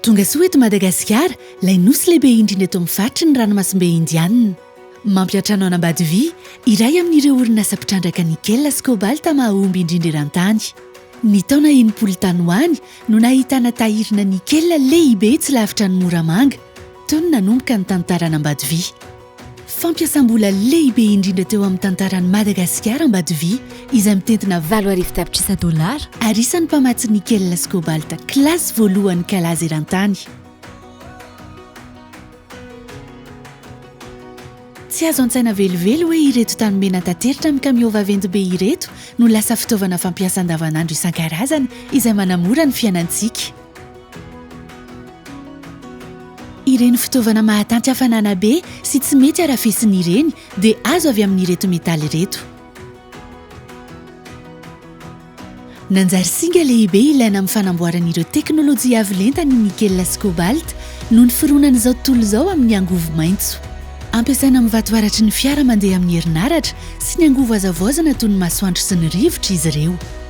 Tongasoa eto Madagasikara, ilay nosy lehibe indrindra eto amin'ny faritry ny ranomasimbe Indianina. Mampihatra anao an'Ambatovi, iray amin'ireo orinasa mpitrandraka nickel sy cobalt mahahomby indrindra eran-tany. Ny taona enimpolo tany ho any no nahitana tahirina nickel lehibe tsy lavitra an'i Moramanga, teo no nanomboka ny tantaran'Ambatovi. Fampiasam-bola lehibe indrindra teo amin'ny tantaran'i Madagasikara Ambatoviha izay mitentina valo arivo tapitrisa dolara ary isan'ny mpamatsy nickel sy cobalt classe voalohany kalaza eran-tany. Tsy azo an-tsaina velively hoe ireto tany mena tateritra amin'ny kamiao vaventy be ireto no lasa fitaovana fampiasa andavanandro isan-karazany izay manamora ny fiainantsika. Ireny fitaovana mahatanty hafanana be sy tsy mety harafesina ireny dia azo avy amin'ireto metaly ireto. Nanjary singa lehibe ilaina amin'ny fanamboarana ireo teknolojia avo lenta ny nickel sy cobalt noho ny fironan'izao tontolo izao amin'ny angovo maitso. Ampiasaina amin'ny vatoaratry ny fiara mandeha amin'ny herinaratra sy ny angovo hazavaozana toy ny masoandro sy ny rivotra izy ireo.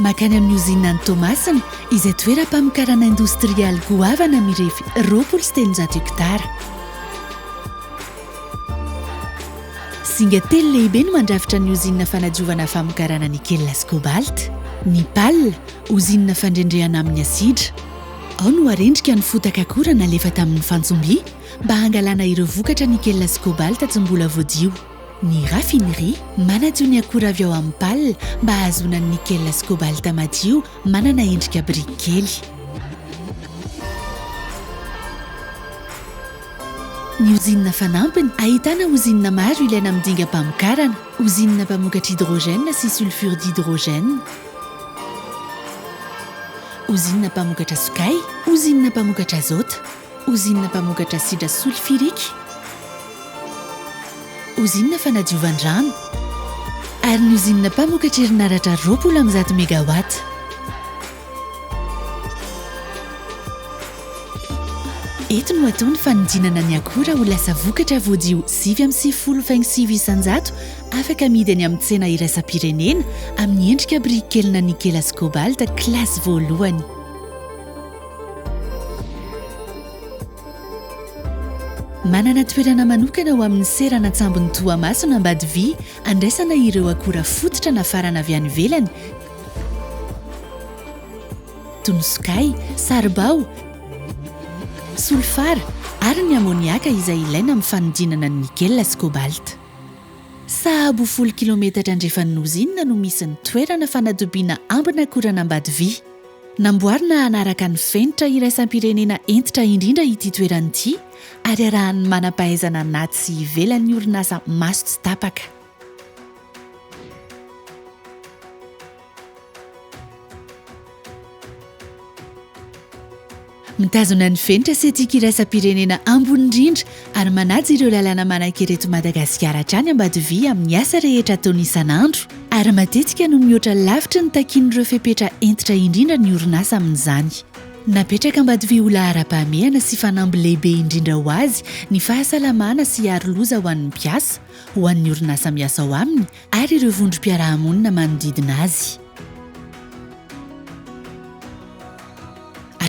Mankany amin'ny ozinina any Toamasina, izay toeram-pamokarana indostrialy goavana mirefy roapolo sy telonjato hekitara. Zinga telo lehibe no mandrafitra ny ozinina fanadiovana famokarana nikela sy kobalt, ny pal, ozinina fandrendrehana amin'ny asidra. Ao no arendrika ny fotaka akora nalefa tamin'ny fantsomby mba hangalana ireo vokatra nikela sy kobalt tsy mbola voadio. Ny raffinerie manadio ny akora avy ao amin'ny pale mba hahazoana ny nickel sy cobalt madio manana endrika biriky kely. Ny ozinina fanampiny ahitana ozinina maro ilaina amin'ny dingam-pamokarana, ozinina mpamokatra hydrogène sy sulfure d'hydrogène, ozinina mpamokatra sokay, ozinina mpamokatra azota. Ozinina mpamokatra asidra solifirika, ozinina fanadiovan-drano ary ny ozinina mpamokatra herinaratra roapolo amby zato megawatts. Eto no atao ny fanodinana ny akora ho lasa vokatra voadio sivy amby sivifolo faingo sivy isan-jato afaka amidy any amin'ny tsena iraisam-pirenena amin'ny endrika biriky kely na nikela sy kobalta kilasy voalohany. Manana toerana manokana ho amin'ny seranan-tsambon'i Toamasina Ambadivia handraisana ireo akora fototra nafarana avy any ivelany toy ny sokay, saribao, solifara ary ny amoniaka izay ilaina amin'ny fanodinana ny nikela sy kobalta. Sahabo folo kilometatra andrefan'ny ozinina no misy ny toerana fanatobiana ambin'akoran'Ambadivia. Namboarina hanaraka ny fenitra iraisam-pirenena hentitra indrindra ity toerana ity ary arahan'ny manam-pahaizana anaty sy ivelan'ny orinasa maso tsy tapaka. Mitazona ny fenitra sy tsiky iraisam-pirenena ambony indrindra ary manaja ireo lalàna manankery eto Madagasikara hatrany Ambatovi amin'ny asa rehetra ataony isan'andro ary matetika no mihoatra lavitry ny takian'ireo fepetra hentitra indrindra ny orinasa amin'izany. Napetraka Ambatovi ho laharam-pahamehana sy fanamby lehibe indrindra ho azy ny fahasalamana sy hiaro loza ho an'ny mpiasa, ho an'ny orinasa miasa ao aminy ary ireo vondrom-piarahamonina manodidina azy.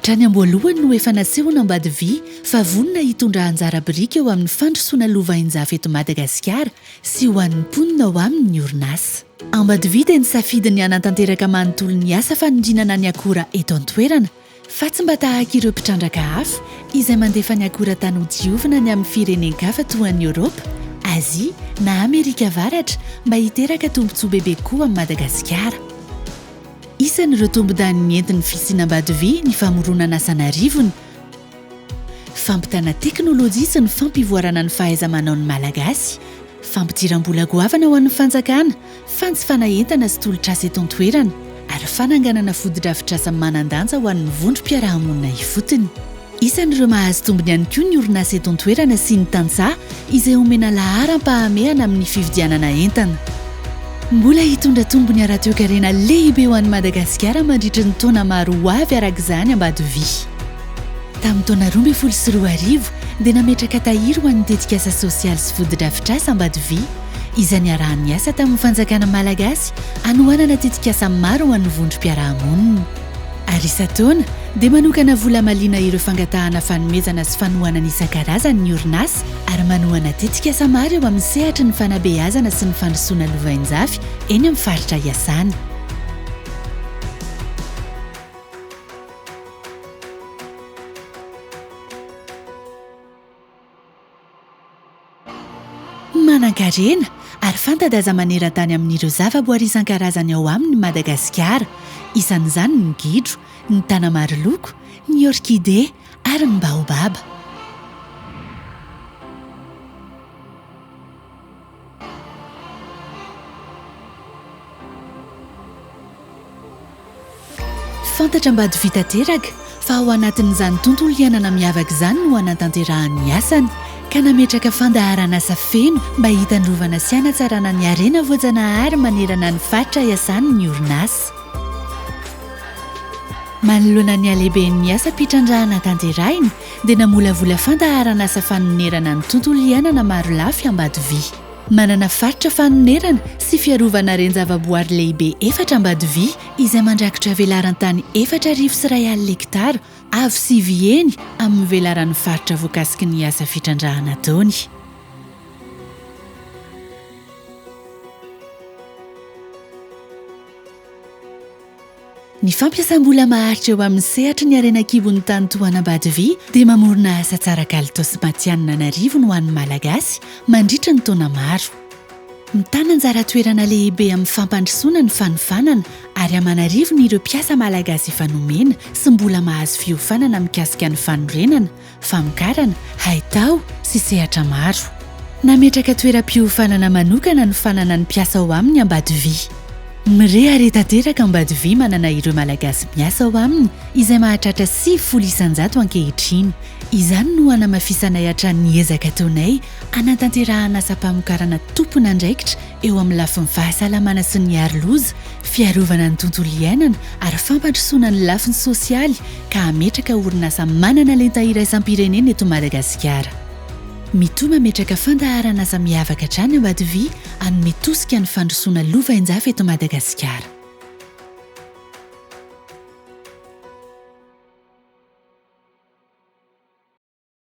Hatrany am-boalohany no efa nasehon' Ambadivy fa vonona hitondra anjara biriky eo amin'ny fandrosoana lovain-jafy eto Madagasikara sy ho an'ny mponina ao aminy ny orinasa. Ambadivy dia nisafidy ny hanatanteraka manontolo ny asa fanorinana ny akora eto an-toerana fa tsy mba tahaka ireo mpitrandraka hafa izay mandefa ny akora tany ho diovina any amin'ny firenen-kafa toa an'i Eoropa, Azia na Amerika Avaratra mba hiteraka tombontsoa bebe koa amin'i Madagasikara. Isan'ireo tombon-daniny nentin'ny fisiana ambady vy ny famoronana asa an'arivony, fampitana teknolojia sy ny fampivoarana ny fahaiza-manaon'ny Malagasy, fampidiram-bola goavana ho an'ny fanjakana, fanjifana entana sy tolotr'asa eto an-toerana ary fananganana fotodrafitrasa manan-danja ho an'ny vondrom-piarahamonina ifotony. Isan'ireo mahazo tombony ihany koa ny orinasa eto an-toerana sy ny tantsaha izay omena laharam-pahamehana amin'ny fividianana entana. Mbola hitondra tombony ara-toekarena lehibe ho an'i Madagasikara mandritry ny taona maro ho avy araka izany Ambatoviha. Tamin'ny taona roa ambin'ny folo sy roa arivo dia nametraka tahiry ho an'ny tetikasa sosialy sy fotodrafitrasa Ambatoviha izay niaraha-niasa tamin'ny fanjakana malagasy hanohanana tetikasa maro ho an'ny vondrom-piarahamonina. ary isan-taona dia manokana vola hamaliana ireo fangatahana fanomezana sy fanohanana isan-karazany ny orinasa ary manohana tetikasa maro eo amin'ny sehatry ny fanabeazana sy ny fandrosoana lovainjafy eny amin'ny faritra iasany. Manankarena ary fanta-daza maneran-tany amin'ireo zavaboary isan-karazany ao aminy Madagasikara. Isan'izany ny gidro, ny tanamariloko, ny orkide ary ny baobaba. Fantatra ambady vita teraka fa ao anatin'izany tontolo iainana miavaka izany no hanatanterahany ny asany ka nametraka fandaharan'asa feno mba hitandrovana sy hanatsarana ny harena voajanahary manerana ny faritra iasany ny orinasa. Manoloana ny halehiben'ny asam-pitrandrahana tanterahina, dia namolavola fandaharan'asa fanonerana ny tontolo iainana marolafy Ambatoviha. Manana faritra fanonerana sy fiarovana reni-javaboary lehibe efatra Ambatoviha izay mandrakitra velaran-tany efatra arivo sy iray alina hekitara avo sivy heny amin'ny velaran'ny faritra voakasiky ny asa fitrandrahana ataony. Ny fampiasam-bola maharitra eo amin'ny sehatry ny harena an-kibon'ny tany toa an'Ambatoviy dia mamorona asa tsara kalitao sy matihanina an'arivony ho an'ny Malagasy mandritra ny taona maro. Mitana anjara toerana lehibe amin'ny fampandrosoana ny fanofanana ary aman'arivony ireo mpiasa Malagasy efa nomena sy mbola mahazo fiofanana mikasika ny fanorenana, famokarana, haitao sy sehatra maro. Nametraka toeram-piofanana manokana ny fananan'ny mpiasa ao aminy Ambatovi. Mirehare tanteraka Ambatovi manana ireo Malagasy miasa ao aminy izay mahatratra sivifolo isan-jato ankehitriny. Izany no hanamafisanay hatrany ny ezaka ataonay hanatanterahana asam-pamokarana tompon'andraikitra eo amin'ny lafiny fahasalamana sy ny aro loza, fiarovana ny tontolo iainana ary fampandrosoana ny lafiny sosialy ka hametraka orinasa manana lenta iraisam-pirenena eto Madagasikara. Mitoa mametraka fandaharan'asa miavaka hatrany Ambatoviha hanome tosika ny fandrosoana lovainjafy eto Madagasikara.